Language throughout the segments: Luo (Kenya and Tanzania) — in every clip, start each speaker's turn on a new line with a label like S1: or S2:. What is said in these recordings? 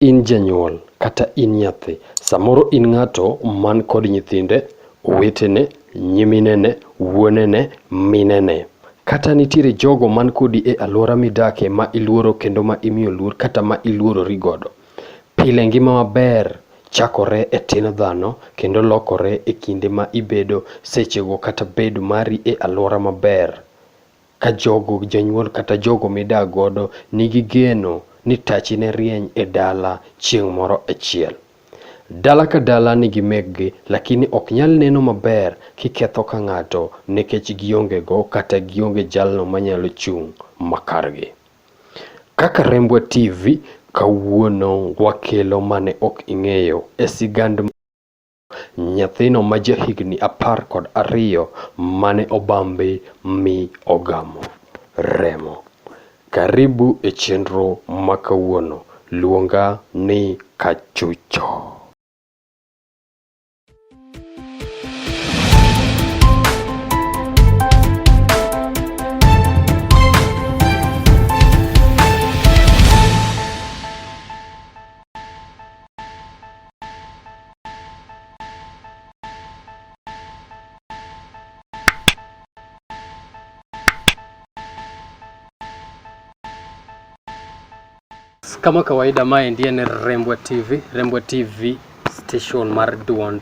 S1: In janyuol kata in nyathi, samoro in ng'ato man kod nyithinde, owetene, nyiminene, wuonene, minene. Kata nitiere jogo man kodi e alwora midake ma iluoro kendo ma imiyo luor kata ma iluorori godo. Pile ngima maber chakore e tin dhano kendo lokore e kinde ma ibedo sechego kata bedo mari e alwora maber. Ka jogo janyuol kata jogo midak godo nigi geno ni tachi ne rieny e dala chieng' moro achiel. Dala ka dala nigi meggi lakini ok nyal neno maber kiketho ka ng'ato nikech gionge go kata gionge jalno manyalo chung' makargi. Kaka Rembwa TV kawuono wakelo mane ok ing'eyo e sigand Nyathino ma jahigni apar kod ariyo mane obambe mi ogamo remo. Karibu e chenro ma kawuono. Luonga ni Kachucho. Kama kawaida, mae ndiye ni Rembwa TV, Rembwa TV station mar Duond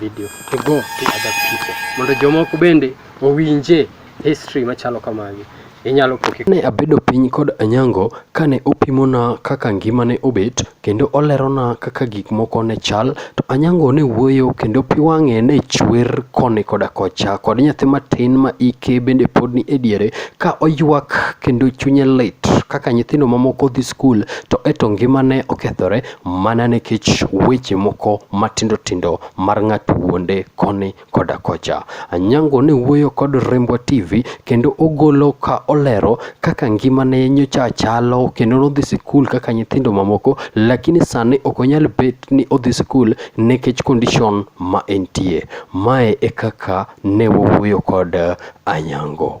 S1: video to go to other people mondo jomoko bende owinje history machalo kamagi inyalo poke. Ne abedo piny kod Anyango kane opimona kaka ngima ne obet kendo olerona kaka gik moko ne chal to Anyango ne wuoyo kendo pi wang'e ne chwer koni koda kocha kod nyathi matin ma ike bende pod ni e diere ka oywak kendo chunye lit kaka nyithindo mamoko dhi skul to eto ngimane okethore. mana nikech weche moko matindo tindo mar ng'ato wuonde koni koda kocha. Anyango ne wuoyo kod Rembwa TV kendo ogolo ka olero kaka ngimane nyocha chalo kendo nodhi sikul kaka nyithindo mamoko lakini sani ok onyal bet ni odhi sikul nikech condition ma entie. Mae e kaka ne wawuoyo kod Anyango.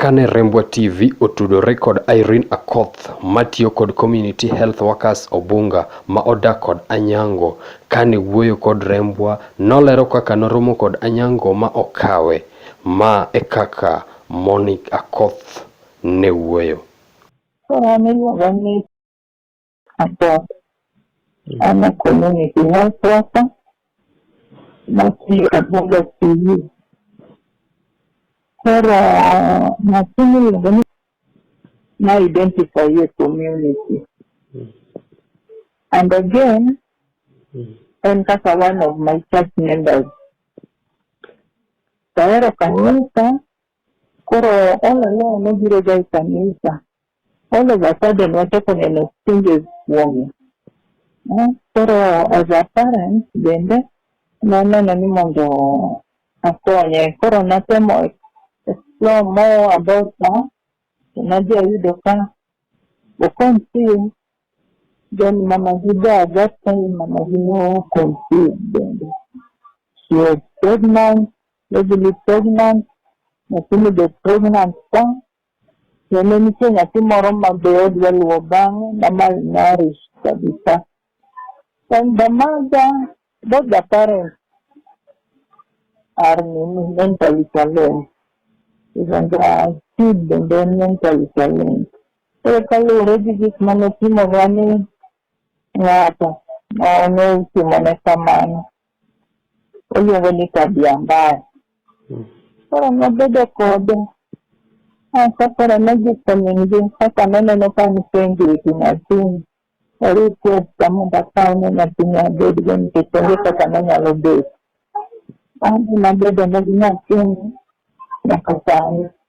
S1: Kane Rembwa TV otudore kod Irene Akoth matiyo kod Community Health Workers Obunga ma odak kod Anyango, kane wuoyo kod Rembwa nolero kaka noromo kod Anyango ma okawe. Ma e kaka Monique Akoth ne wuoyo. Koro an
S2: iluonga ni hapo ana community health worker na si aboga siyu koro masini iluongo ni na identify your community and again en kaka one of my church members tahero kanisa koro all along nobiroga e kanisa All of a sudden wachako neno changes kuome. Eh, Koro as a parent bende naneno ni mondo akonye. Koro natemo explore more about her. To Nadhi ayudo ka oconceive. Then mama gi da that time mama gi no conceive bende. She was pregnant, heavily pregnant. Lakini the pregnant ka To ne nitie nyathi moro ma be odwa luwo bang'e, Damal Narish kabisa. And Damaja, both the parents are mentally challenged. Even the kid bende en mentally challenged. Koro kaluwore gi gik ma notimorwa ni ng'ato ma notimo ne kamano. oluongo ni tabia mbaya. Mm. Koro nobedo kode asa koro nodhi komingi kaka noneno ka nipenjo e gi nyathini ori kuod kamondo akaw ne nyathini abedgo nikech onge kaka nonyalo bet. Adhi nabedo ne gi nyathini nyaka sani.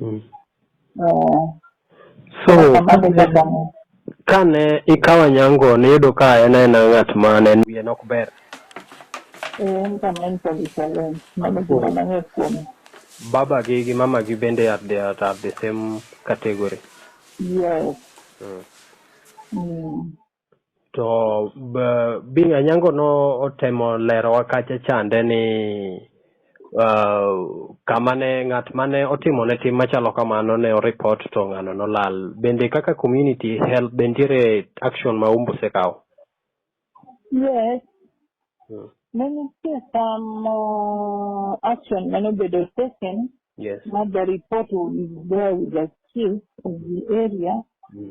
S1: Mm. Eh. So, kane ikawa nyango niyudo ka en aena ng'at ma ne wiye nok ber eh, baba gi gi mama gi bende at the, at, at the same category yes mm.
S2: Mm.
S1: to Bing Anyango no otemo lerowa kacha chande ni uh, kama ne ng'at mane otimo ne tim machalo kamano ne oripot to ng'ano nolal. Bende kaka community help be nitiere action ma umbu sekawo?
S2: Yes. Hmm. Ne nitie some uh, action mane obedo taken. Yes. Not the
S1: report
S2: will be there with the chief of the area. Hmm.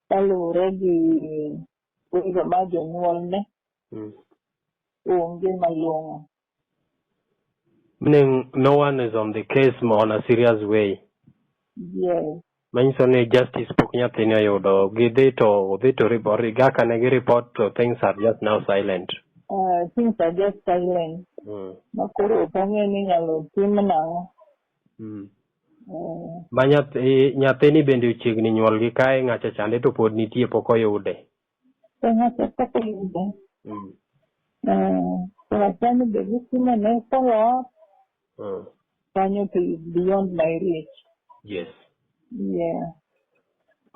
S2: Kaluwore gi wendo ma jonyuolne mm. onge malong'o. Meaning
S1: no one is on the case on a serious way.
S2: Yes. Manyiso ni
S1: justice pok nyathini oyudo gidhi to odhi to report ga kane gi report to things are just now silent. Uh, things
S2: are just silent. Mm. Makoro ok ang'e ni inyalo tim nang'o. Mm.
S1: Eh. Ma nyathi nyathini bende ochiegni nyuol gi kae ng'acha chande to pod nitie pok oyude. To ng'acha
S2: pok oyude. Mm. Eh, to achani be gitimo ne follow up. Mm. Kanyo to beyond my reach. Yes.
S1: Yeah.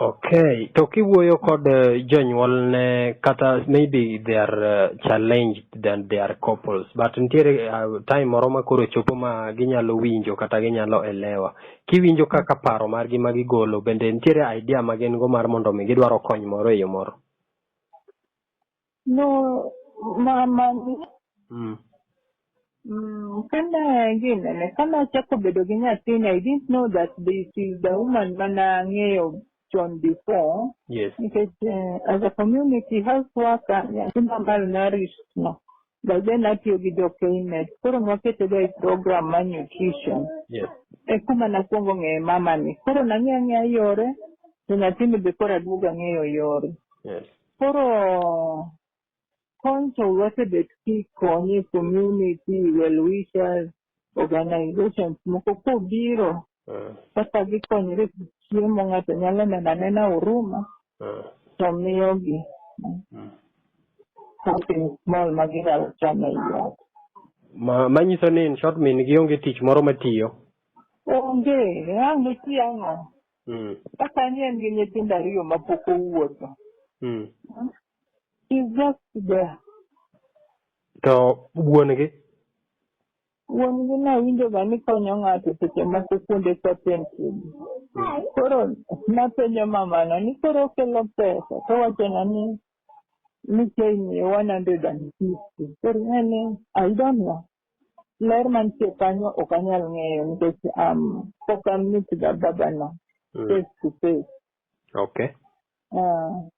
S1: Okay, to kiwuoyo kod eh, jonyuolne kata maybe they are eh, challenged than they are couples but nitiere eh, time moro ma koro chopo ma ginyalo winjo kata ginyalo elewa. Kiwinjo kaka paro margi ma gigolo bende nitiere idea ma gin go mar mondo mi gidwaro kony moro e yo moro? No,
S2: mama ni Mm. mm, kanda ingine ne kanda achako bedo gi nyathini I didn't know that this is the woman mana ng'eyo chon before Yes. nikech
S1: eh,
S2: as a community health worker nyathi mamar nourish no But then atiyo gi jo Knet. Koro nwaketega e program mar nutrition. Yes. E
S1: kuma nakwongo
S2: ng'eye mama ni. Koro nang'eya ng'eya yore, to nyathini be koro aduogo ang'eyo yore. Yes. Koro kony to wasebet kikonye community, well wishers, organizations moko kobiro Mm. kaka gikonyore gi chiemo ng'ato nyalo neno anena huruma Mm. to miyogi Mm. something small ma ginyalo chamo e iot. Ma,
S1: manyiso ni in short min gi onge tich moro matiyo. Onge,
S2: ang' iti ang'o? Mm. Kaka ni en gi nyithindo ariyo ma pok owuotho. Mm. She's just there.
S1: To wuon-gi?
S2: Wuon-gi nawinjoga ni konyo ng'ato seche moko kuonde content. Koro napenjo mamano ni koro okelo pesa towachona ni ni kemiye 150. Koro en ni I don't know. Ler mantie kanyo ok anyal ng'eyo nikech um, pok amit ga babano face to face.
S1: Okay. Uh,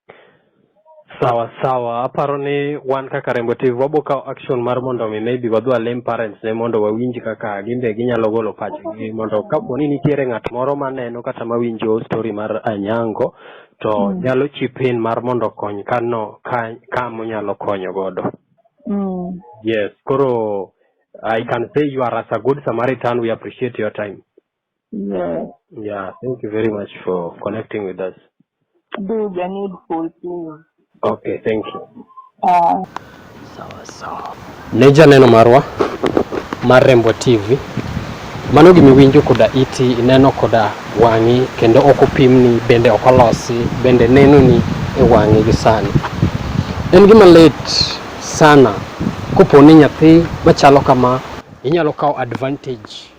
S1: sawa sawa aparo ni wan kaka rembo tv wabo kawo action mar mondo mi maybe wadhi walem parents ne mondo wawinj kaka gin be ginyalo golo pachgi mondo kapo ni nitiere ng'at moro maneno kata mawinjo story mar anyango to mm. nyalo chip in mar mondo kony kano ka, ka monyalo konyo godo mm. yes koro i can say you are as a good samaritan we appreciate your time
S2: Yeah. Yeah,
S1: thank you very much for connecting with us. Do the
S2: needful, please. Okay, thank
S1: you. Uh, sawa
S2: sawa. Ne janeno marwa
S1: mar Rembo TV mano gima iwinjo koda iti ineno koda wang'i kendo ok opimni bende ok olosi bende nenoni e wang'i gi sani. En gima lit sana kopo ni nyathi machalo kama inyalo kawo advantage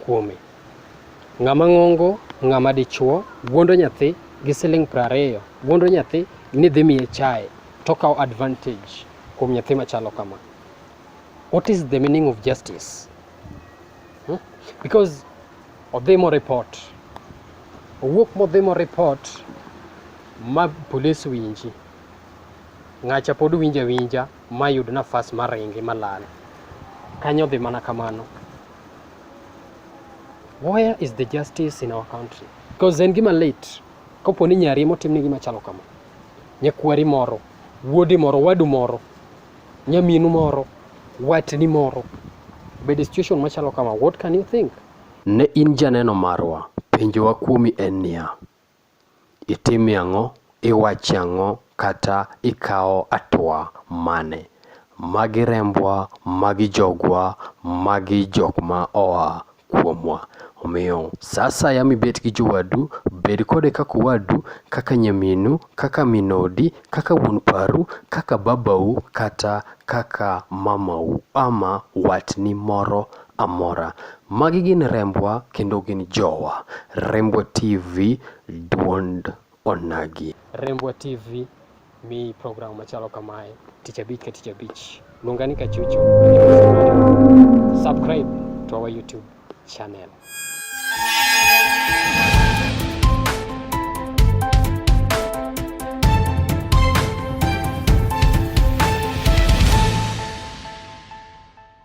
S1: kuome. Ng'ama ng'ongo, ng'ama dichuo, guondo nyathi gi siling' prariyo, guondo nyathi ni dhi miye chae, tokawo advantage kuom nyathi machalo kama. What is the meaning of justice? Hmm? Because odhi mo report, owuok modhi mo report ma police winji, ng'acha pod winja winja. mayud nafas ma ringi malal kanyo dhi mana kamano where is the justice in our country because en gima late kopo ni nyari motimni gima chalo kama nyakwari moro wuodi moro wadu moro nyaminu moro watni moro bed situation machalo kama what can you think ne in janeno marwa penjowa kuomi en niya itimie ang'o, iwachie ang'o kata ikawo atua mane. Magi rembwa, magi jogwa, magi jok ma oa kuomwa. Omiyo sa asaya mibet gi jowadu, bed kode kaka owadu, kaka nyaminu, kaka min odi, kaka wuon paru, kaka babau kata kaka mamau ama watni moro amora. Magi gin rembwa kendo gin jowa. Rembwa TV duond onagi. Rembwa TV mi program machalo kamae tich abich ka tich abich. Luonga ni Kachucho. Subscribe to our YouTube channel.